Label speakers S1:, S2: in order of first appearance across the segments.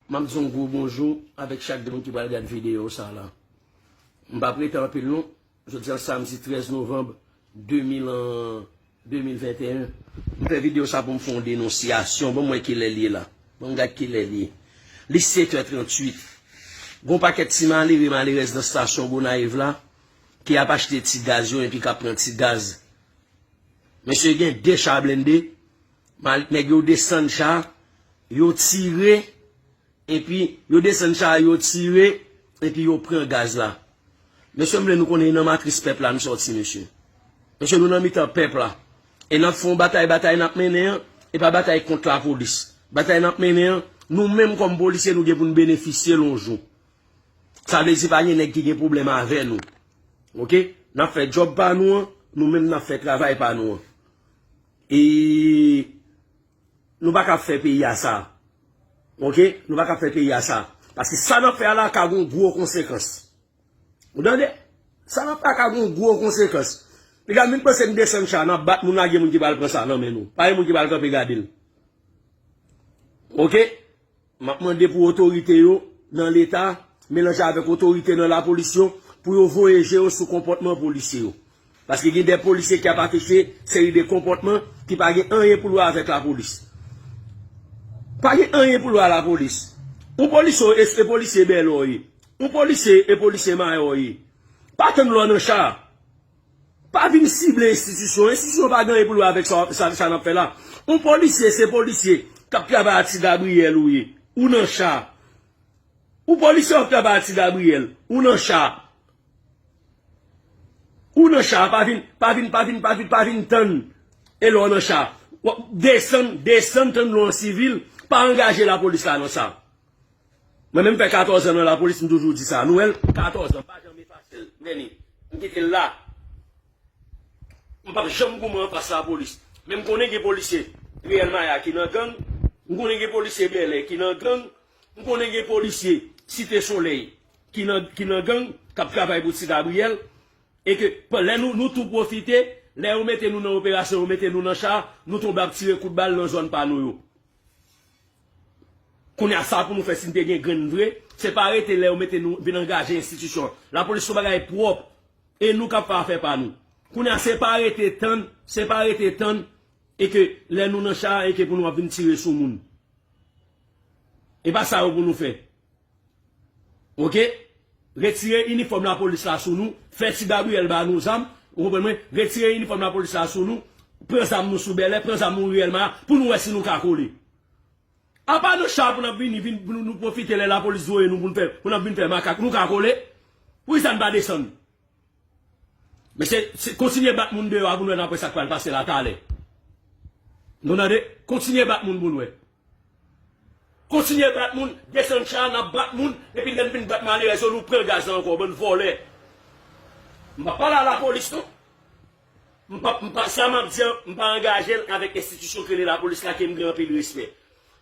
S1: Map di yon gwo bonjou avèk chak de moun ki pral gad videyo sa la. M pap rete anpil non, jodi an samdi 13 novanb 2021. M fè videyo sa poum fè yon denonsyasyon, banm wè kilè l ye la. Banm gad kilè l ye. Li 7 è 38. Gon pakèt ti malere, malerèz nan stasyon Gonayiv la ki ap achte ti gaz yo enpi kap pran ti gaz. Mesye gen 2 cha blende. Malik nèg yo desann cha yo tire epi yo desann cha yo tire epi yo pran gaz la mesye m vle nou konnen nan matris pèp la nou sòti mesye mesye nou nan mitan pèp la e nap fon batay batay nap mennen an e pa batay kont la polis batay nap mennen an nou menm kòm polisye nou gen pou nou benefisye l yon jou sa vle di pa gen nèg ki gen pwoblèm avè nou ok nap fè djòb pa nou an nou menm nap fè travay pa nou an. E nou pa kab fè peyi a sa. Ok, nou pa kab fè peyi a sa. Paske sa nan fè a la ka gon gwo konsekans. Ou tande? Sa nan fè a ka gon gwo konsekans. Li ka min panse n desann cha nan bat moun lage moun ki pral pran sa nan men nou. Pa gen moun ki pral kanpe gade l. Ok? Map mande pou otorite yo nan leta melanje avèk otorite nan lapolis yo pou yo voye je yo sou konpòtman polisye yo. Paske gen de polisye ki ap afiche seri de konpòtman ki pa gen anyen pou l wè avèk lapolis. Pa gen anyen pou l wè a lapolis. Yon polisye w e polisye Bèlò w ye. Yon polisye e polisye Mayò w ye. Pa tann lè w nan cha a. Pa vin sible enstitisyon. Enstitisyon pa gen anyen pou l wè avèk sa n ap fè la. Yon polisye se polisye k ap travay a Ti Gabriyèl ou ye, ou nan cha. Yon polisye w ap travay a Ti Gabriyèl, ou nan cha. Ou nan cha, pa vin, pa vin, pa vin, pa vin, pa vin tann e lè w nan cha. Desann, desann tann lè w an sivil, pa angaje lapolis la nan sa. Mwen menm fè 14 an nan lapolis m toujou di sa, nou wèl 14 an pa janm efase l men ni m kite l la m pap janm goumen anfas lapolis men m konnen gen polisye riyèl maya ki nan gang m konnen gen polisye bèlè ki nan gang m konnen gen polisye site solèy ki nan ki nan gang kap travay pou ti gabriyèl e ke pa lè nou nou tou pwofite lè yo mete nou nan operasyon yo mete nou nan cha nou tonbe ap tire kout bal nan zòn pa nou yo. Kounya sa pou nou fè si n te gen grenn vre, se pa rete lè yo mete nou vin angaje enstitisyon. Lapolis son bagay pwòp e nou k ap fè afè pa nou. Kounya se pa rete tann, se pa rete tann e ke lè nou nan cha a e ke pou nou ap vin tire sou moun. E pa sa yo pou nou fè. Ok retire inifòm la polis la sou nou fè ti Gabriel ba nou zam ou konprann mwen retire inifòm la polis la sou nou pran zam nou sou bèlè pran zam nou riyèl ma pou nou wè si nou ka kole apa nan cha pou nap vini vin pou nou pwofite lè la polis voye nou pou nou fè pou nap vin fè makak nou ka kole poukisa nou pa desann. Mesye kontinye bat moun deyò a pou nou wè nan apre sak pral pase la talè. Nou tande kontinye bat moun pou nou wè. Kontinye bat moun, desann cha nap bat moun epi lèn fin bat malerèz yo nou pran gaz la ankò bann vòlè. M pap pale a la polis non. M pap m pa sa map di an m pa angajel avèk enstitisyon ki rele la polis la kem gen anpil respè.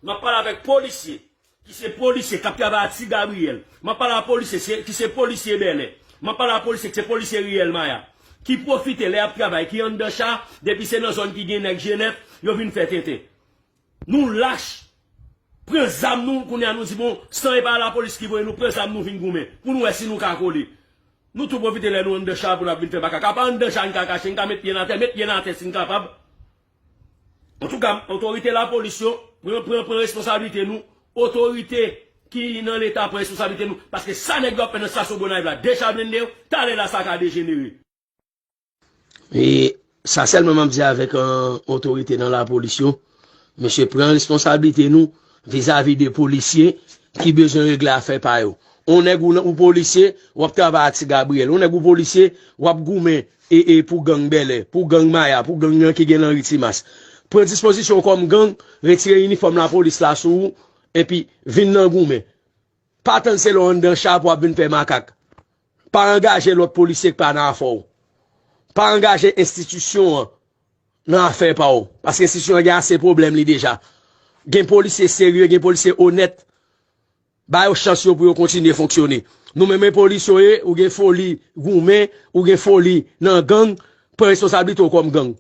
S1: Map pale avèk polisye Ki se polisye kap travay a ti Gabriel. Map pale a polisye ki se polisye Bèlè. Map pale a polisye ki se polisye Riyèl Maya. Ki pwofite lè yap travay, ki anndan cha, depi se nan zòn ki gen nèg Jenèf, yo vin fè tenten. Nou lach. Pran zam nou, kounye a nou di bon, san e pa lapolis ki voye nou, pran zam nou vin goumen. Pou nou wè si nou ka kole. Nou tou pwofite lè nou anndan cha pou nap vin fè makak. Apa anndan cha n ka kache, n ka met pye n atè. Met pye n atè si n kapab. Antouka, otorite lapolis yo, pran pran pran responsablite nou, otorite ki nan leta pran responsablite nou, paske sa nèg yo ap fè nan stasyon Gonayiv la, de cha blende yo, talè la sa ka dejenere. E sa sèlman m ap di avèk otorite nan lapolis yo, mesye pran responsablite nou vizavi de polisye ki bezwen regle afè pa yo. On nèg ou polisye, w ap travay ak Ti Gabriyèl, on nèg ou polisye, w ap goumen E e pou gang Bèlè, pou gang Maya, pou gang nan ki gen Lanri Timas. Pran dispozisyon w kòm gang, retire inifòm lapolis la sou ou, enpi vin nan goumen. Pa tann se lè w anndan cha pou w ap vin fè makak. Pa angaje lòt polisye k pa nan afè w. Pa angaje enstitisyon an nan afè pa w, paske enstitisyon an gen ase pwoblèm li deja. Gen polisye serye, gen polisye onèt Ba yo chans yo pou yo kontinye fonksyone. Nou menm e polis yo ye ou gen foli goumen ou gen foli nan gang pran responsablite w kòm gang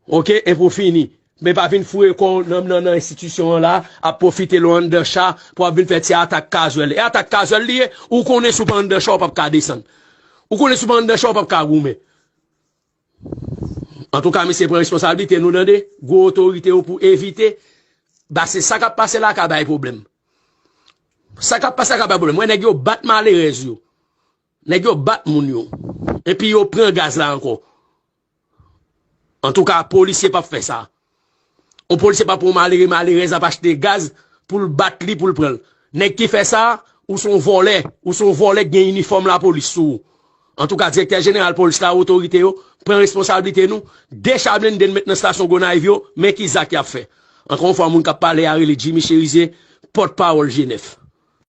S1: ok e pou fini men pa vin foure kò w nan nan enstitisyon an la ap pwofite lò anndan cha pou ap vin fè ti atak kazwèl e atak kazwèl li ye ou konnen si w pa anndan cha w pap ka desann ou konnen si w pa anndan cha w pap ka goumen. Antouka mesye pran responsablite nou tande gwo otorite yo pou evite base sa kap pase la ka bay pwoblèm sa kap pase la ka bay pwoblèm wè nèg yo bat malerèz yo nèg yo bat moun yo epi yo pran gaz la ankò antouka polisye pap fè sa. Yon polisye pa pou yon malere malerèz ap achte gaz poul bat li poul pranl. Nèg ki fè sa, ou son vòlè, ou son vòlè k gen inifòm lapolis sou ou. Antouka direktè jeneral polis la, otorite yo, pran responsablite nou, 2 cha blende n met nan stasyon Gonayiv yo, men ki zak yap fè. Ankò yon fwa moun kap pale a rele Jimmy Cherizier, pòt pawòl G9.